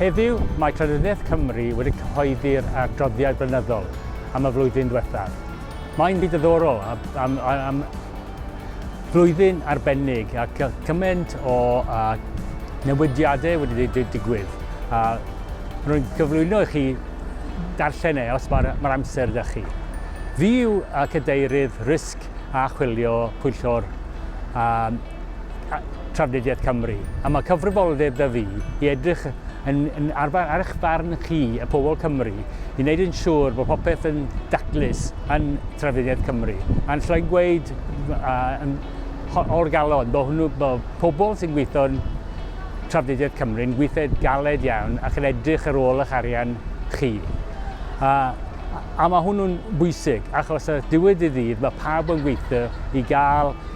Heddiw, mae Llenyddiaeth Cymru wedi cyhoeddi'r adroddiad blynyddol am y flwyddyn ddiwethaf. Mae'n fyd ddiddorol a, am, am flwyddyn arbennig ac cymaint o a, newidiadau wedi digwydd. A rwy'n cyflwyno i chi darllen e os mae'r mae amser da chi. Fi yw cadeirydd risg a chwilio pwyllgor Trafnidiaeth Cymru, a mae cyfrifoldeb 'da fi i edrych yn, yn ar, ar eich farn chi, y pobl Cymru, i wneud yn siŵr bod popeth yn daclus yn Trafnidiaeth Cymru. A'n llai gweud uh, o'r galon, bod hwnnw, bod pobl sy'n gweithio yn Trafnidiaeth Cymru yn gweithio galed iawn ac yn edrych ar ôl eich arian chi. A, a mae hwnnw'n bwysig, achos y diwedd i ddydd mae pawb yn gweithio i gael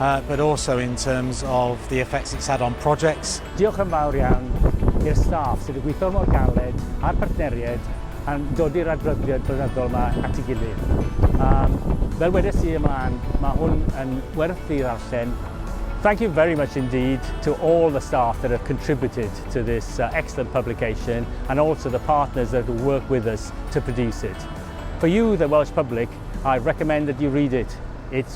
uh, but also in terms of the effects it's had on projects. Diolch yn fawr iawn i'r staff sydd wedi gweithio mor galed a'r partneriaid a'n dod i'r adroddiad blynyddol yma at ei gilydd. Um, fel wedes i ymlaen, mae hwn yn werth i ddarllen. Thank you very much indeed to all the staff that have contributed to this uh, excellent publication and also the partners that have worked with us to produce it. For you, the Welsh public, I recommend that you read it. It's